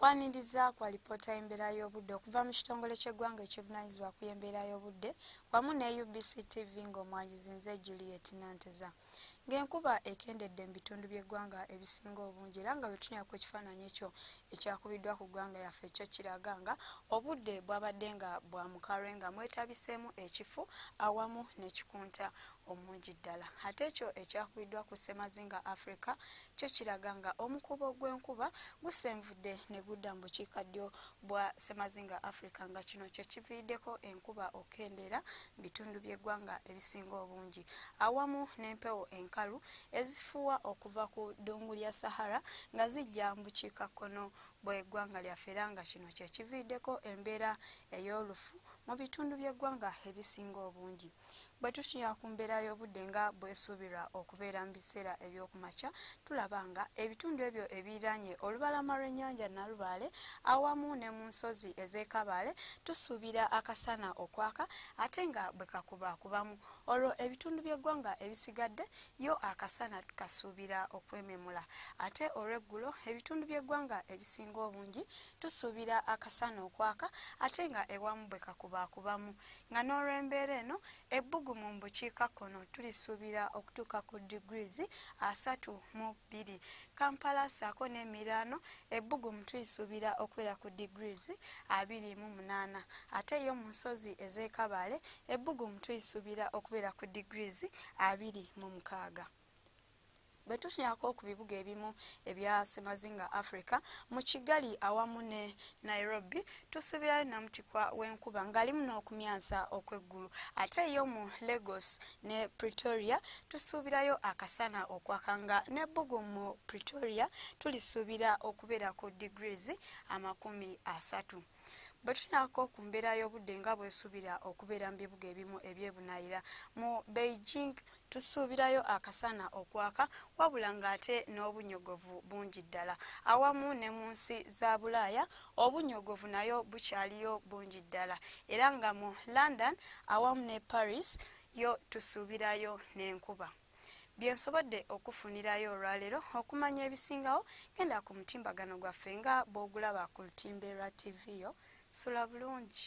kwaniriza kwa lipoota y'embeera y'obudde okuva mu kitongole ky'eggwanga ekyebunanyizibwa ku y'embeera y'obudde wamu ne ubc tv ng'omwanjuzi nze juliet nanteza ng'enkuba ekendedde mu bitundu by'eggwanga ebisinga obungi era nga wetunyako ekifaananyi ekyo ekyakubiddwa ku ggwanga lyaffe ekyo kiraga nga obudde bwabadde nga bwa mukalwe nga mwetabiseemu ekifu awamu nekikunta omungi ddala ate ekyo ekyakubiddwa ku ssemazinga africa kyo kiraga nga omukuubo gw'enkuba gusenvudde ne gudda mu bukiika ddyo bwa ssemazinga africa nga kino kye kiviiriddeko enkuba okukendeera mu bitundu by'eggwanga ebisinga obungi awamu n'empewo enkalu ezifuuwa okuva ku ddungu lya sahara nga zijja mu bukiika kkono bw'eggwanga lyaffe era nga kino kye kiviiriddeko embeera ey'olufu mu bitundu by'eggwanga ebisinga obungi bwe tutunya ku mbeera y'obudde nga bwesuubirwa okubeera mu biseera ebyokumakya tulaba nga ebitundu ebyo ebiranye olubalama lw'ennyanja nalubaale awamu ne mu nsozi ez'ekabaale tusuubira akasana okwaka ate nga bwe kakuba kubamu olwo ebitundu by'eggwanga ebisigadde yo akasana tukasuubira okwememula ate olw'eggulo ebitundu by'eggwanga ebisinga obungi tusuubira akasana okwaka ate nga ewamu bwe kakuba kubamu nga n'olw'embeera eno ebbugumu mu bukiikakkono tulisuubira okutuuka ku degrees asatu mu bbiri kampala saako n'emiraano ebbugumu tulisuubira okubeera ku degrees abiri mu munaana ate yo mu nsozi ez'ekabaale ebbugumu tulisuubira okubeera ku degrees abiri mu mukaaga bwe tutyako ku bibuga ebimu ebya semazinga africa mu kigali awamu ne nairobi tusuubirayo namutikwa w'enkuba ng'alimu n'okumyansa okw'eggulu ate yo mu lagos ne pretoria tusuubirayo akasana okwaka nga n'ebbugu mu pretoria tulisuubira okubeera ku degrees amakumi asatu bwe tunaako ku mbeera y'obudde nga bwesubira okubeera mu bibuga ebimu ebyebunayira mu beijing tusuubirayo akasana okwaka wabula ng'ate n'obunyogovu bungi ddala awamu ne mu nsi za bulaaya obunyogovu nayo bukyaliyo bungi ddala era nga mu london awamu ne paris yo tusuubirayo n'enkuba byensobodde okufunirayo olwaleero okumanya ebisingawo genda ku mutimbagano gwaffe nga bw'ogulaba ku lutimbe lwa tv yo sula bulungi